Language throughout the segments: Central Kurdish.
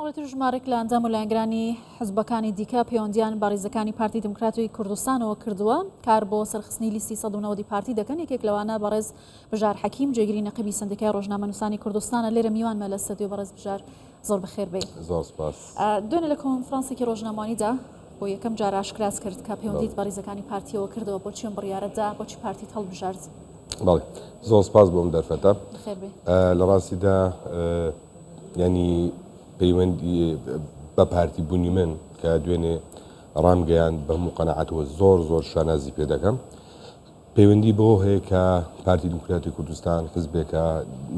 ئەوەتر ژمارێک لە ئەندام و لایەنگرانی حزبەکانی دیکە پەیوەندیان بە ڕیزەکانی پارتی دموکراتی کوردستانەوە کردووە کار بۆ سەرخستنی لیستی 1990 پارتی دەکەن یەکێک لەوانە بەڕێز بژار حەکیم جێگری نەقبی سندیکای ڕۆژنامە نووسانی کوردستانە لێرە میوانمە لە سەدیو بەڕێز بژار زۆر بەخێر بێ دوێنە لە کۆنفرانسێکی ڕۆژنامانیدا بۆ یەکەم جار ئاشکراس کرد کە پەیوەندیت بە ڕیزەکانی پارتیەوە کردەوە بۆ چێن بڕیارەدا بۆچی پارتی هەڵبژارد زۆر سپاس بۆم دەرفەتە لە ڕاستیدا یانی پەیوەندی بە پارتی بونی من کە دوێنێ ڕامگەیاند بە هەموو قەناعەتەوە زۆر زۆر شانازی پێ دەکەم پەیوەندی بەوە هەیە کە پارتی دیموکراتی کوردستان حزبێکە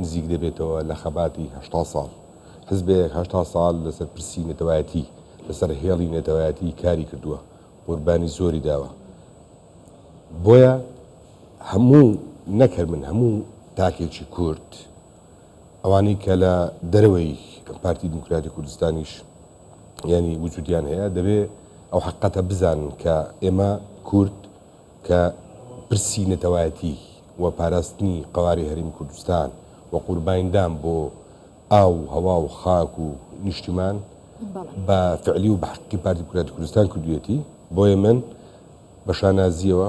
نزیک دەبێتەوە لە خەباتی هەشتا ساڵ حزبێک هەشتا ساڵ لەسەر پرسی نەتەوایەتی لەسەر هێڵی نەتەوایەتی کاری کردووە قوربانی زۆری داوە بۆیە هەموو نەکەر من هەموو تاکێکی کورد ئەوانەی کە لە دەرەوەی پارتی دیموکراتی کوردستانیش یانی وجودیان هەیە دەبێ ئەو حەقەتە بزانن کە ئێمە کورد کە پرسی نەتەوایەتی و پاراستنی قەوارەی هەرێمی کوردستان و قوربانیدان بۆ ئاو و هەوا و خاک و نیشتیمان بە فعلی و بە حەقی پارتی دیموکراتی کوردستان کردوویەتی بۆیە من بە شانازییەوە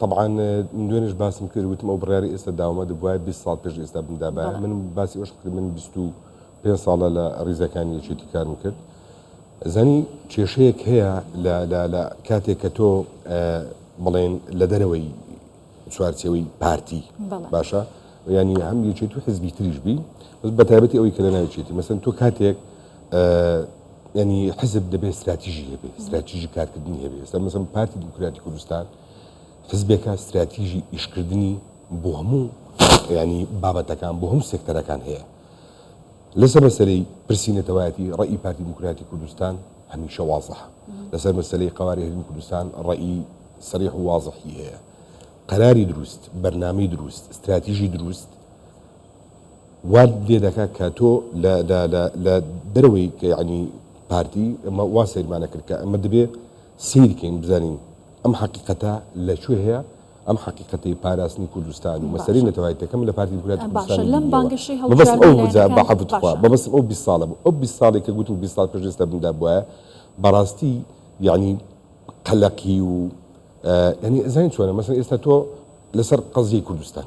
تەبعەن دوێنێش باسم کرد وتم ئەو بڕیاری ئێستا داومە دەبواە 20 ساڵ پێش ئێستا بمدابە من باسی ئەوش کرد من 20 پێ ساڵە لە ڕیزەکانی یەکێتی کارم کرد زانی کێشەیەک هەیە لە کاتێک کە تۆ بڵێن لە دەرەوەی چوارچەوەی پارتی باشە ینی هەم یەکێت و حزبی تریش بی بە تایبەتی ئەوەی کە لە ناوچێتی مەسن تۆ کاتێک یانی حزب دەبێت استراتیژی هەبێ استراتیژی کارکردنی هەبێ ئێستا مەسم پارتی دیموکراتی کوردستان حزبێکە استراتیژی ئیشکردنی بۆ هەموو ینی بابەتەکان بۆ هەموو سێکتەرەکان هەیە لەسەر مەسەری پرسی نەتەوایەتی ڕێی پارتی دیموکراتی کوردستان هەمیشە وازح لەسەر مەسلەی قواری هەرمی کوردستان ڕێی سریح و وازحی هەیە قەراری دروست بەرنامی دروست استراتیژی دروست وات لێ دەکا کە تۆ لە لە لە لە دەرەوەی کە یەعنی پارتی ئەمە وا سەیرمان ئەکرد کە ئەمە دەبێ سەیری کەین بزانین ئەم حەقیقەتە لە کوێ هەیە ئەم حەقیقەتەی پاراستنی کوردستان و مەسەلەی نەتەوایەتیەکە من لە پارتی دیموکراتی کوردستانی بیدیەوە مەبەستم ئەو بوو جا بەعەفوت تخوا مەبەستم ئەو بیست ساڵە بوو ئەو بیست ساڵەی کە گوتم بیست ساڵ پێش ئێستا بمدا بوایە بەڕاستی یەعنی قەلەقی و یەعنی ئەزانین چۆنە مەسەلەن ئێستا تۆ لەسەر قەزیەی کوردستان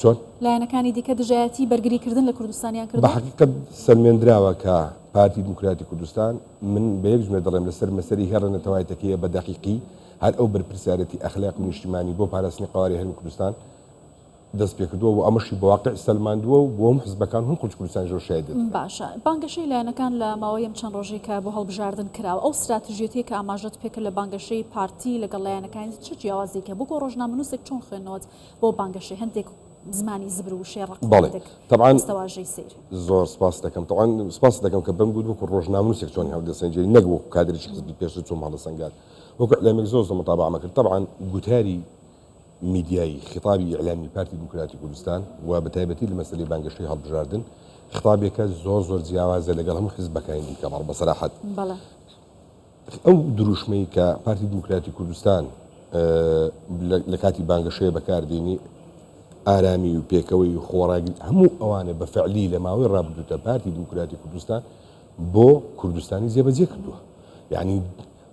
چۆن؟ لایەنەکانی دیکە دژایەتی بەرگری کردن لە کوردستانیان کردوە؟ بە حەقیقەت سەلمێندراوە کە پارتی دیموکراتی کوردستان، من بە یەک جملە دەڵێم، لە سەر مەسەلی هێڕە نەتەوایەتەکەیە بە دەقیقی هەر ئەو بەرپرسیارێتی ئەخلاقی و نیشتیمانی بۆ پاراستنی قەوارەی هەرێمی کوردستان دەست پێ کردوە و ئەمەشی بە واقع سەلماندوە و بۆ هەموو حزبەکان و هەموو خەڵکی کوردستانیش ئەو شایەدێتی دەکەن. باشە بانگەشەی لایەنەکان لە ماوەی ئەم چەند ڕۆژەی کە بۆ هەڵبژاردن کراوە، ئەو ستراتژیەتیەی کە ئاماژەت پێ کرد لە بانگەشەی پارتی لەگەڵ لایەنەکانی چ جیاوازیەکی هەبوو؟ وەکو ڕۆژنامەنوسێک چۆن خوێندنەوەت بۆ بانگەشەی هەندێک زمانی زبر و وشەی ڕەق و بەڵێ هەندێک تەبعەن دەستەواژەی سەیر. زۆر سپاست دەکەم تەبعەن سپاست دەکەم کە بەم گووت وەکو ڕۆژنامەنووسێک چۆنی هەڵدەسەنجێی نەک وەکو کادرێکی حزبی پێشتر چۆم هەڵەسەنگان وەکو ئیعلامێک زۆر زۆر متابەعەمە کرد تەبعەن گوتاری میدیایی خیتابی ئیعلامی پارتی دیموکراتی کوردستان و بە تایبەتی لە مەسەلەی بانگەشەی هەڵبژاردن خیتابێکە زۆر زۆر جیاوازە لەگەڵ هەموو حزبەکانی دیکە بەڵێ بە سەراحەت بەڵێ. ئەو دروشمەی کە پارتی دیموکراتی کوردستان لە کاتی بانگەشەیە بەکاردێنی، ئارامی و پێکەوەی و خۆڕاگری، هەموو ئەوانە بە فەعلی لە ماوەی ڕابردوودا پارتی دیموکراتی کوردستان بۆ کوردستانی جێبەجێ کردووە. یانی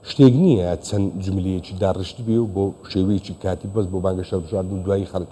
شتێک نییە چەند جوملەیەکی داڕشتبێ و بۆ شێوەیەکی کاتی بەس بۆ بانگەشە بژاردن و دوایی خەڵک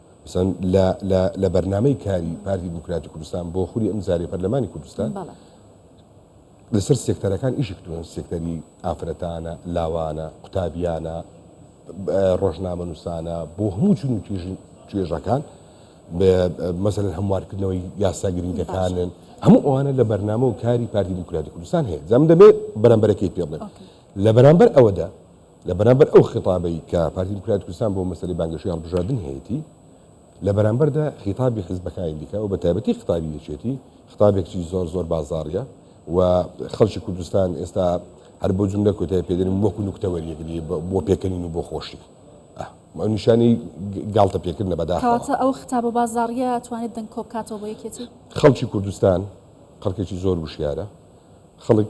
مەسەن لە لە لە بەرنامەی کاری پارتی دیموکراتی کوردستان بۆ خولی ئەمجارەی پەرلەمانی کوردستان بەڵێ لەسەر سێکتەرەکان ئیشی کردوون سێکتەری ئافرەتانە لاوانە قوتابیانە ڕۆژنامە نووسانە بۆ هەموو چون و توێژی توێژەکان مەسەن هەموارکردنەوەی یاسا گرنگەکانن هەموو ئەوانە لە بەرنامە و کاری پارتی دیموکراتی کوردستان هەیە جام دەبێت بەرەمبەرەکەی پێ بڵێ لە بەرامبەر ئەوەدا لە بەرامبەر ئەو خیتابەی کە پارتی دیموکراتی کوردستان بۆ مەسەلەی بانگەشەی هەڵبژاردن هەیەتی، لە بەرامبەردا خیتابی حیزبەکانی دیکە و بە تایبەتی خیتابی یەکێتی خیتابێکچی زۆر زۆر بازاڕیە و خەڵکی کوردستان ئێستا هەر بۆ جوملە کۆتای پێدەنین وەکو نوکتەوەریەک لێ بۆ پێکەنین و بۆ خۆشی ئەو نیشانەی گاڵتە پێکردنە بەداخەوە. کەواتە ئەو خیتابە بازاڕیە توانێت دەنگ کۆ بکاتەوە بۆ یەکێتی؟ خەڵکی کوردستان خەڵکێکی زۆر وشیارە، خەڵک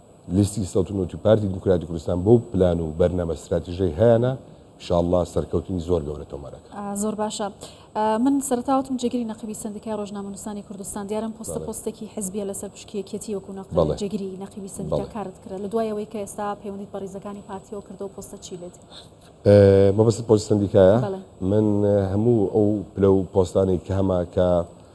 لیستی سەڵتنوت و پارتی دیموکراتی کوردستان بەو پلان و بەرنامە ستراتیژەی هەیانە شاءاللە سەرکەوتنی زۆر گەورە تۆمار ئەکەن. زۆر باشە من سەرتا وتم جێگری نەقیبی سندیکای ڕۆژنامەنووسانی کوردستان دیارم پۆستە بەڵێ پۆستێکی حزبیە لەسەر پشکی یەکێتی وەکو نەق بەڵێ جێگری نەقیبی سندیکا بەڵێ کارت کرد لە دوای ئەوەی کە ئێستا پەیوەندیت بە ڕیزەکانی پارتیەوە کردەوە پۆستە چی لێت مەبەستت پۆستی سندیکایە بەڵێ. من هەموو ئەو پلە و پۆستانەی کە هەمە کە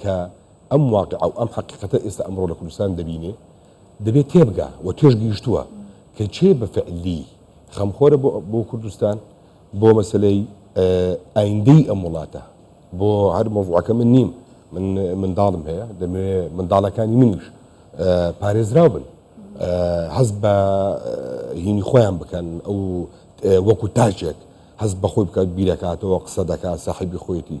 کە ئەم واقیع و ئەم حەقیقەتە ئێستا ئەمڕۆ لە کوردستان دەبینێ، دەبێ تێبگا و تێشگەیشتووە کە کێ بە فعلی خەمخۆرە بۆ بۆ کوردستان، بۆ مەسەلەی ئایندەی ئەم وڵاتە، بۆ هەر مەوزوعەکە من نیم، من منداڵم هەیە، دەمەوێ منداڵەکانی منیش پارێزراو بن، هەست بە هینی خۆیان بکەن، ئەو وەکوو تاکێک هەست بە خۆی بکات، بیرەکاتەوە، قسە دەکات، ساحێبی خۆیەتی.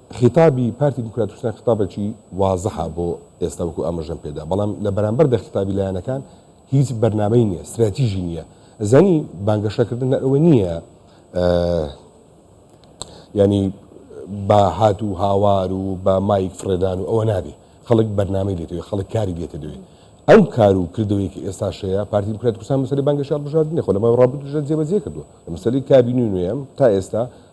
خیتابی پارتی دیموکراتوکران خیتابەکی وازحە بۆ ئێستا وەکو ئاماژەم پێدا بەڵام لە بەرامبەر دە خیتابی لایەنەکان هیچ بەرنامەی نییە ستراتیژی نییە زانی بانگەشەکردن لە ئەوە نییە ینی بە هات و هاوار و بە مایک فرێدان و ئەوە نابێ خەڵک بەرنامەی لێتەوەی خەڵک کاری لێتە دوێ ئەم کار و کردەوەی کە ئێستا شەیە پارتی دیموکرات کوردستان مەسەلی بانگەشار بژاردنی خۆ لەمە ڕابردووش جێبەجێ کردووە مەسەلی کابینی نوێم تا ئێستا